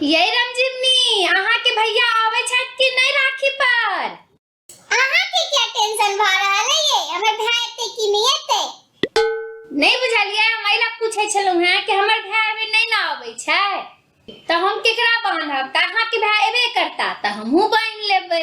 यही रमजीवनी अहाँ के भैया आवे छत कि नहीं राखी पर अहाँ के क्या टेंशन भा रहा है ये हमर भाई एते कि नहीं एते नहीं बुझलिए हम एला पूछे छलु हैं कि हमर भाई अभी नहीं ना आवे छै त हम केकरा बांधब त अहाँ के भाई एबे करता त हमहू बांध लेबै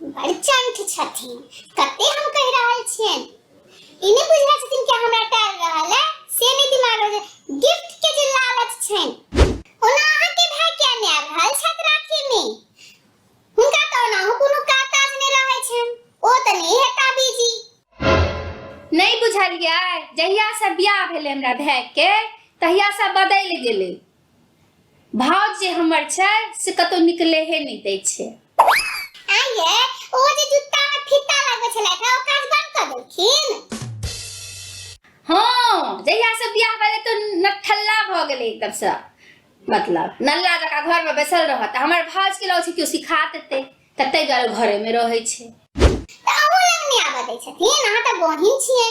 बड़ चंठ छथिन कते हम कह रहल छियन ई नहि बुझै छथिन कि हमरा टाल रहल है से नहि दिमाग में गिफ्ट के जे लालच छैन ओना अहाँ के भाई क्या ने आ रहल छत राखी में हुनका तो ना हो कोनो का ताज ने रहै छैन ओ त नहीं है ताबीजी नहीं बुझलियै जहिया से ब्याह भेलै हमरा भाई के तहिया से बदलि गेलै भाव जे हमर छै से कतौ निकले हे नहीं दै छै आइए ओ जे जूता में फीता लागल छले था ओ काज बंद कर देलखिन हां जहिया से बियाह भेले तो नठल्ला भ गेले एकदम से मतलब नल्ला जका घर में बैसल रहत हमर भाज के लौ छै क्यों सिखा देते तते गल घरे में रहे छै त अहू लग नहीं आबे दै छथिन अहाँ त बहिन छियै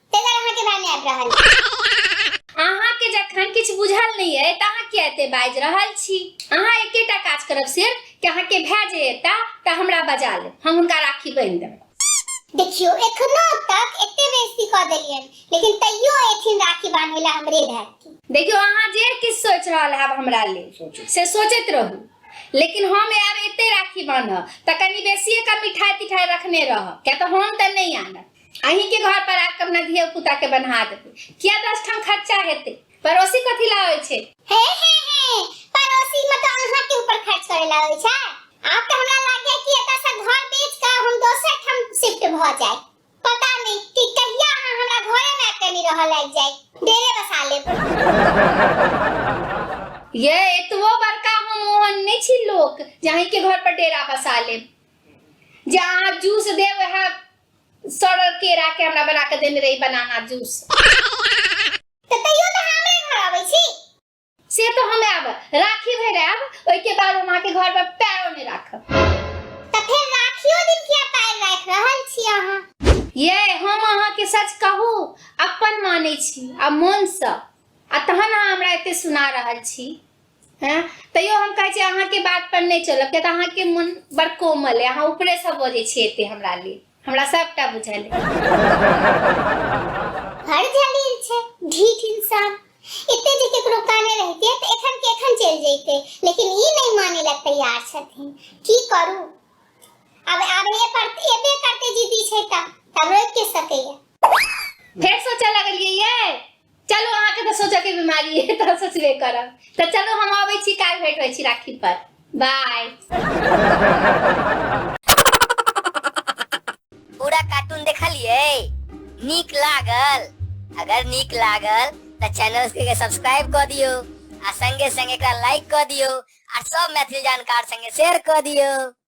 तेकर अहाँ के भाई आबि रहल अहाँ के जखन किछु बुझल नहि अइ तऽ अहाँ किया एते बाजि रहल छी अहाँ एकेटा काज करब सिर्फ कि अहाँ के भाई जे एता तऽ हमरा बजा लेब हम हुनका राखी बांधि देब देखियो एखनो तक एते बेइज्जती क देलियन लेकिन तैयो एथिन राखी बांधे ला हमरे घर के देखियो अहाँ जे किछु सोच रहल हैब हमरा लेल से सोचैत रहू लेकिन हम आब एते राखी बांधब तऽ कनि बेसिए का मिठाई तिठाई रखने रहब किया तऽ हम तऽ नहि आनब अहीं के घर पर आके अपना धिया पुता के बन्हा देते किया दस ठाम खर्चा हेते पड़ोसी कथी ला होय छे हे हे हे पड़ोसी में तो अहाँ के ऊपर खर्च करे ला होय छै आप तो हमरा लागे कि एता से घर बेच के हम दोसर ठाम शिफ्ट भ जाए पता नहीं कि कहिया अहाँ हमरा घरे में आके नहीं रह लाग जाए डेरे बसा लेब ये एतबो बड़का हम मोहन नहीं छी लोक जे अहीं के घर पर डेरा बसा लेब जे अहाँ जूस देब वह सड़ल केरा के हमरा बना के देने रही बनाना जूस तऽ तैयो तऽ हमरे घर आबै छी से तो हमें आब राखी भर आब ओहि के बाद हम अहाँके घर पर पैरो नहीं राखब तऽ फेर राखियो दिन किया पैर राखि रहल छी अहाँ ये हम अहाँके सच कहू अपन मानै छी आ मोनसँ आ तहन अहाँ हमरा एते सुना रहल छी हँ तैयो हम कहै छी अहाँके बात पर नहि चलब किया तऽ अहाँके मन बड़ कोमल है अहाँ ऊपरे से बजै छी एते हमरा लिए हमरा सबटा बुझल है हर जलील छै ढीठ इंसान एते जे केकरो काने रहते तऽ एखन के एखन चलि जैते लेकिन ई नहि माने ला तैयार छथिन की करू अब अब ये पर एबे करते जिद्दी छै तऽ तब रोक के सकैया फेर सोचऽ लगलियै ये चलू अहाँके तऽ सोचऽके बिमारी है तऽ सोचबे करब तऽ चलू हम अबै छी काल्हि भेट होइ छी राखी पर बाय पूरा कार्टून देखलिए नीक लागल अगर नीक लागल तऽ चैनल के सब्सक्राइब कऽ दियौ आ संगे संगे एकरा लाइक कऽ दियौ आ सब मैथिली जानकार संगे शेयर कऽ दियौ